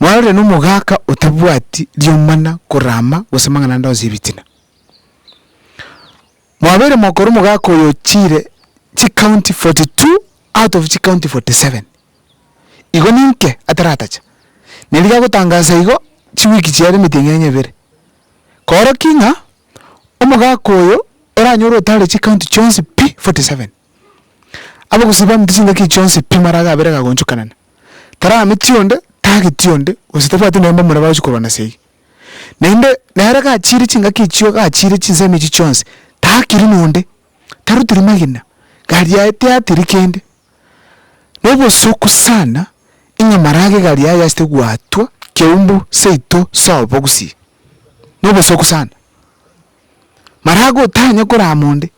Mwarorire nomogaka otabwati riomana korama gose amang'ana ande onsi ebitina. Mwabeire mokora omogaka oyo chire chicounty forty two out of chicounty forty seven. Igo ninke ataratacha? Nerigo agotangasa igo chiweek chiare emeteng'ia onye ebere. Koroking'a omogaka oyo oranyore otare chicounty chionsi pi forty seven. Abogusii bamete chingaki chionsi pi amara iga abere igagonchokanana. Tarameti onde, tageti onde, gose tabwati nonya mbamura bagochi korwa na seyi. Naende, nere gachiire chingaki echio gachiire chinsemo echio chionsi, taakiri nonde, tarutiri magena, gari yaye teatiri kende. Na obosuku sana, ing'a marage gari yaye yasete gwatwa keumbu seito sa obogusii. Na obosuku sana. marago otanya korama onde,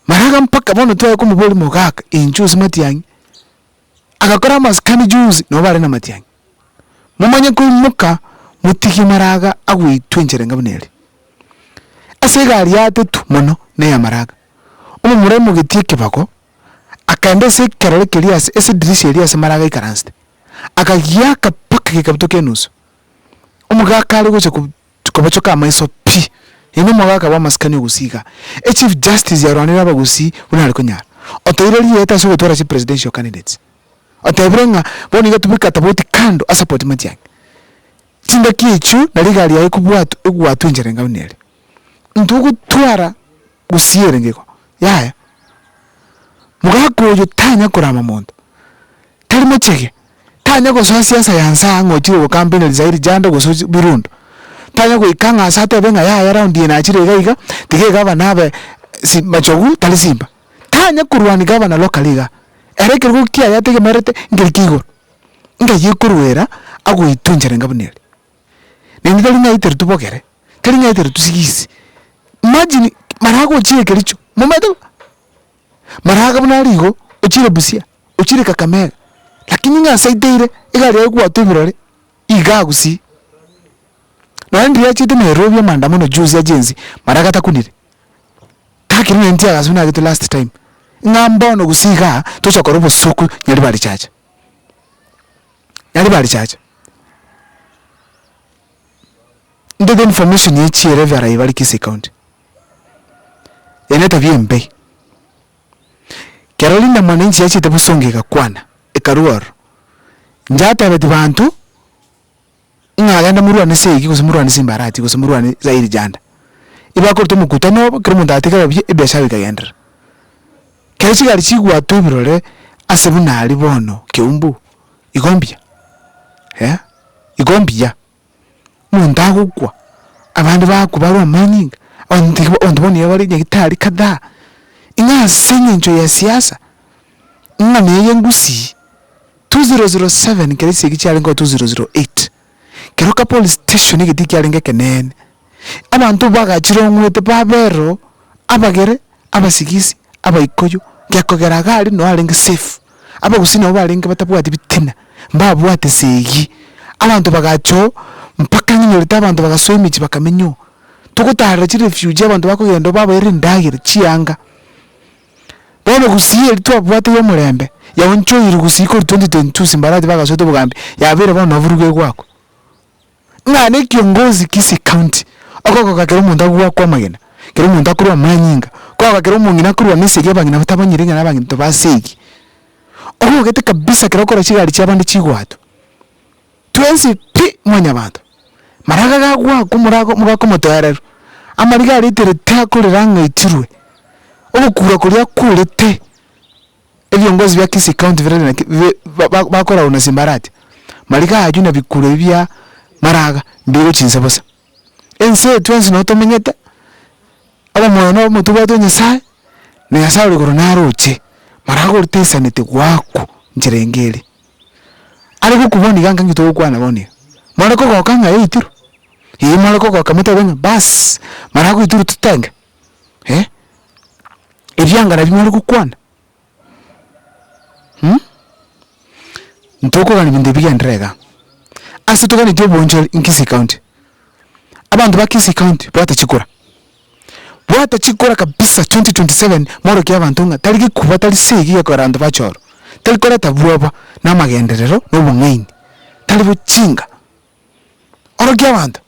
maraga mpaka bono twaya komoboria mogaka inche ase matiang'i, agakora amasikani juzi nabo bare na matiang'i, momanye koimoka motige maraga agoitwa enchera enga buna ere. Ase egari yatetwe mono na eya maraga, omomura aimogetie ekebago, akaenda ase ekerore keria ase ase edirisha eria ase maraga aikaransete, akagiaka mpaka gekabutoka enusu, omogaka are gocha ko. tikobachoka amaiso pi. Yaani omogaka bw'amasikani ogusii igaa. Echief justice yarwanire abagusii buna are konyara. Oteire rieta ase ogotwara chipresidential candidates. Otebire ng'a bono iga tobweka tofauti kando asapoti Matiang'i. Chingaki echio na rigari yaye ekobwatwa egwatwa enchera enga buna ere. Intwe ogotwara. gusii erengego yaya. Mogaka oyo tanya korama monto, tari mochege, tanya gosoa siasa ya nsaa ng'a ochire gokampenia risae rijando gose ochi birundu. Tanya goika ng'a ase atebe ng'a yaya raundi eye nachire iga iga, tiga egavana abe si machogu tari simba. Tanya korwania gavana locally igaa, ere ekerogo kiaye ategemerete nkeri kia igoro, ng'ai ekoruera agoituncherenge buna eria. Naende tari ng'aitire tobogere, tari ng'aitire tosigisi, imagine marago ochire kericho, momanyete bo, maraga buna are igo, ochire busia, ochire kakamega, lakini ng'a ase aiteire egari yaye egwatwa ebirore, igaa gusii, nonye riria achiete nairobi amaandamano juzi agensi, maraga takunire, takire naende tiagasubeti nagete last time, ng'a mbono gose igaa, tocha kora obosuku nyaribari chacha. Nari barichache, ntote information ya echiere ebiara ebi bare Kisii county, eye netabia embe, kero rinde mwananchi yachete bosongo egakwana, ekarua ororo, inche atebetie banto. Ng'a genda morwane seegi, gose morwane simbarati, gose morwane zairi janda. Ebakoruta omokutano obo, kera omonto atigare buya, ebiashara bikagenderera. Kero chigari chigwatwa ebirore ase buna aria bono Kiumbu, igo mbuya, eh, igo mbuya. Omonto agokwa, abande bakwa barwe amanyinga, abanto nigo abanto bono nigo bare nyagetari kadhaa. Ing'aa ase eng'encho ya siasa. Ng'a neye ngusii. 2007 kera esegi chiarenge oo 2008 kero kapolice station egetii kiarenge ekeneene abanto bagachirong'wete baberoo abagere abasigisi abaikoyo gekogera iga aria noo arenge safe abagusii nabo barenge batabwati bitina mbabwate esegi abanto bagacha oo mpaka ng'a nyorete abanto bagasoa emichi bakamenya oo togotarera chirefugee abanto bakogenda oo babaira endagera chianga. Bono gusii eria twabwate y'omorembe, yaonchoirwe gusii korwa 2022 Simbarati bagasoete obogambi, yabeire bono noboruge egwakwa. Ng'a na ekiongozi Kisii County, okogoka kera omonto agwakwe amagena, kera omonto akorwa amanyinga, kogoka kera omong'ina akorwa na esegi abang'ina batabanyire ng'a nabang'ina tobasegi. Okogete kabisa kera okora chigari chiabande chigwato. Twensi pi mwanyabanto, maraga gagwakwa morago mogakomotoereru, amariga aretere tiakorera ng'a ichirwe, ogokura koria kworete ebiongozi bia Kisii county bire naki bi ba ba bakoraru na simbarati, mariga aywo na bikuro ebi bia maraga mbigochia inse bosa. Ense eye twensi nabo tomenyete, obomoyo na obomo tobwate o nyasaye, na nyasaye ore igoro naroche, marago oritaisaneti gwakwa nchera engeria. Are gokwa bono iga nkange togokwana bono iga, more kogoka ng'a yaitire, eeh more kogoka motabe ng'a baas, mara goitirwe totenge, eh, ebiangare bi more gokwana, mh, ntokogania ebinto bigenderere igaa. Ase toganeti obonchori Nkisii county, abanto ba Kisii county bwate chikura. Bwata chikura kabisa 2027 morokie abanto ng'a tari gekuba tari segi gekorera abanto bache oro, tari koreta bwoba na amagenderero na obong'aini, tari bochinga. Orokia abanto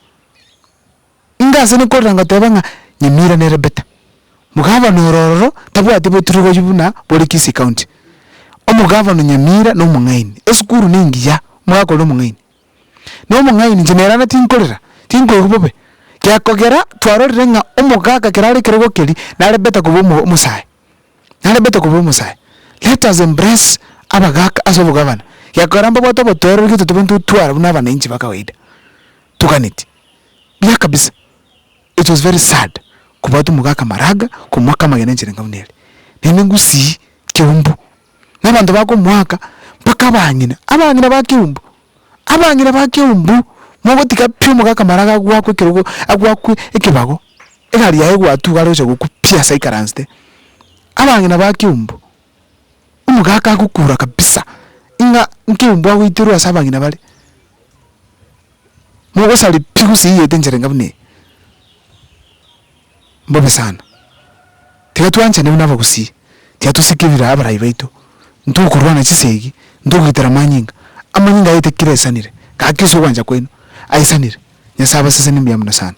inga ase nokorora ngoteba ng'a Nyamira nere better, mogavana ore ororo tabwati boturugoyu buna bore Kisii county, omogavana o Nyamira na omong'aini, esukuru nengiya omogaka oria omong'aini. Nomong'aini inche nere ang'e tinkorera, tinkoigwa bobe, gekogera twarorire ng'a omogaka ekero are ekerogo keria nare better koba omo omosae, nare better koba omosae. Let us embrace abagaka ase obogabana, gekogera mbabwate obotoereria gete tobe ntotwara buna abananchi ba kawaida, toganeti, buya kabisa, it was very sad kobwata omogaka Maraga komoaka amagena enchera enga buna eria, naende ngusii kiumbu. na abanto bakomoaka mpaka abang'ina, abang'ina ba keumbu, abang'ina ba keumbu, mogotiga pi omogaka maraga agwakwe ekerogo agwakwe ekebago, egari yaye egwatuga are gocha gokwa pi ase aikaransete, abang'ina ba keumbu, omogaka agokura kabisa ng'a nkeumbu agoiterwa ase abang'ina bare, mogosari pi gose eywo ete enchera enga buna eye. mbobe sana. Tiga twanchane buna abagusii, tiga tosikirire abarai baito, ntokorwana chisegi, ntogoitera amanyinga. Amanyinga aye tekire aisanire, gaki ase ogwancha kwaino aisanire. Nyasae abaseseni mbuya mono sana.